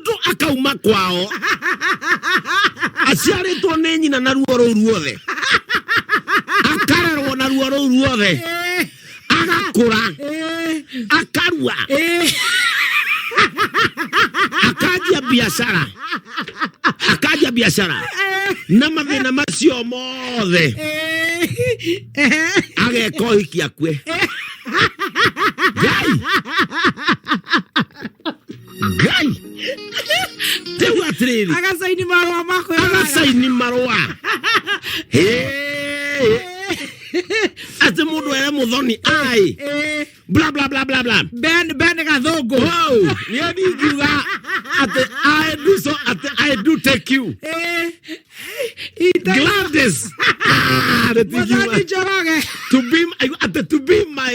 mũndũ akauma kwao aciarĩtwo nĩ nyina na ruo rũu ruothe akarerwo na ruo rũu ruothe Eh, agakũra eh, akarua eh. akanjia biacara akanjia biacara na mathĩna macio mothe Eh, eh. ageka ũhiki akue ngai ngai rĩu atĩrĩrĩ agacaini marũa makwe agacaini marũa atĩ mũndũ ere mũthoni ai bla bla bla bla bla ben ben gathũngũ wow nĩ ndingiuga atĩ i do so atĩ i do take you Gladys ah, mũthoni njoroge to be atĩ to be my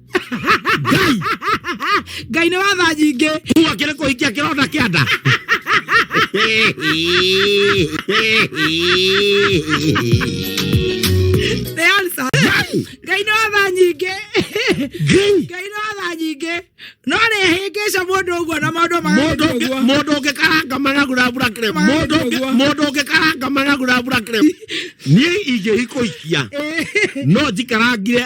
ngai nä watha nyingä Huwa kĩrĩ kũhikia kĩronda kĩa nda. nä ansa ngai nä watha nyingä Ngai, ngai nä watha nyingä no nä hä ngä ca må ndå å guo na maå ndå mũndũ ũngĩ- mũndũ ũngĩ karanga managu na mbura kĩrĩ- mũndũ ũngĩ- mũndũ ũngĩ karanga managu na mbura kĩrĩ. Niĩ ingĩhikũikia no njikarangire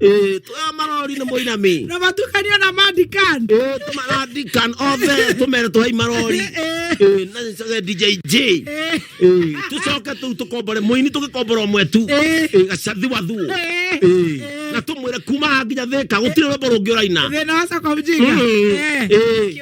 Eh, tuoya marori nĩ mũinami na matukanio na mandikan Eh, tũmaradikan othe tũmere twai marori Eh, na nĩcoke djj Eh, tũcoke tũu tũkombore mũini tũgĩkombora ũmwe tu Eh. Eh, gacathi wa thuo Eh. Eh, na tũmwĩre kuma haha nginya thĩka gũtirĩ rwĩmbo rũngĩ ũraina thĩna wa soko mjinga Mm. Eh. Eh.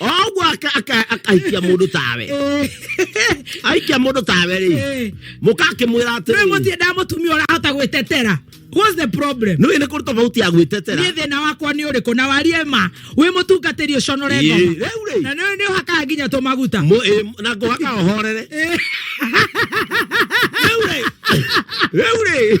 ogwo akaikia mundu tawe aikia mundu tawe ri eh. mukakimwira ati riu mutie ndamutumia urahota gwitetera What's the problem? No ene kurto bauti ya gwitetera. Ni thina wakwa ni uriku na warie ma wi mutungatiri uconore ngoma. Na no ni haka nginya to maguta. Mo eh, na go haka ohorere. Eure. Eh. Eure.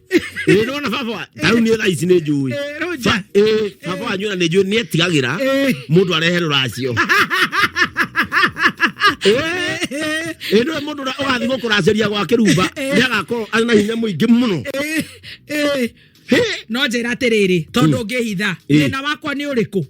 Ĩĩ nĩwona baba wa- ta rĩu niĩ thaa ici nĩ njũĩ Eh, Roger. Ba- ĩĩ, baba wanyu ona nĩ njũĩ nĩ etigagĩra Eh. mũndũ arehe rũracio ĩĩ nĩwe mũndũ ũrĩa ũgathiĩ gũkũracĩria gwa kĩrumba nĩ agakorwo arĩ na hinya mũingĩ mũno Ĩĩ, ĩĩ. no njĩra atĩrĩrĩ tondũ ngĩhitha Mm. thĩna wakwa nĩ ũrĩkũ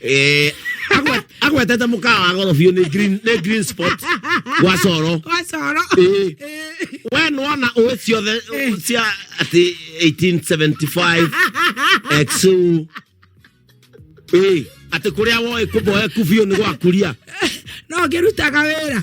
eh agwetete mukawa wa goro biu ni green ni green spot wa coro wa coro eh. eh. we nona uwe ciothe eh. cia ati 1875 exu eh ati kuria woe kuboe kubiu ni gwakuria no ngirutaga wira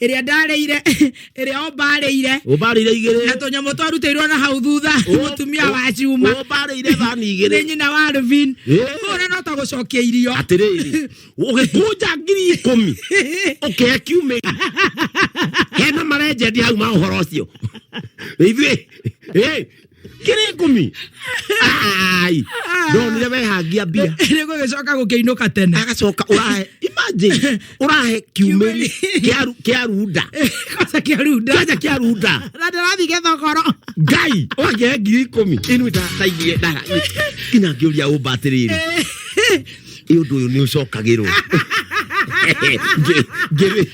ĩrĩa ndarĩire ĩrĩa ombarĩire ũmbarĩire na igĩrĩ tũnyamũ twarutĩirwo na hau thutha Ũ- mũtumia ũ- wa cuma ũmbarĩire thani nĩ igĩrĩ nyina wa Alvin Ĩ. kũra no ta gũcokia irio atĩrĩrĩ ũgĩkũnja ngiri ikũmi ũkĩhe kiumĩ hena marenjendi hau ma ũhoro ũcio ithuĩ ĩ, ngiri ikumi ai no nä wehangia mbia nä gå gä coka gå kä inå ka tene agacoka ũrahe imagine ũrahe kiumĩri kĩa- kĩa runda kwanza kä arunda kanja kĩa runda na ndä rathiä gä thogoro ngai ũgakĩhe ngiri ikũmi ĩnu ndataithie ndara nginya ngĩũria ũmba atĩrĩrĩ ĩ ũndũ ũyũ nĩ ũcokagĩrwo Ngĩ- ngĩrĩ-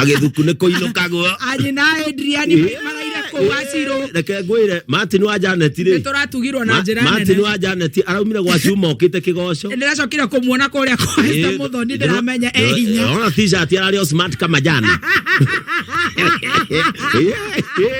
agithuku nä kå inåkagwo anyi na Adrian maraire kũu acirũ reke ngwä re martin wa janeti nĩ rä tũratugirwo na njĩra martin nene wa janeti araumire gwa cuma okä te kä goco ndĩracokire kũmuona kũrĩa kwaita mũthoni ndĩramenya e hinya ona t-shirt ararĩ o smart kama jana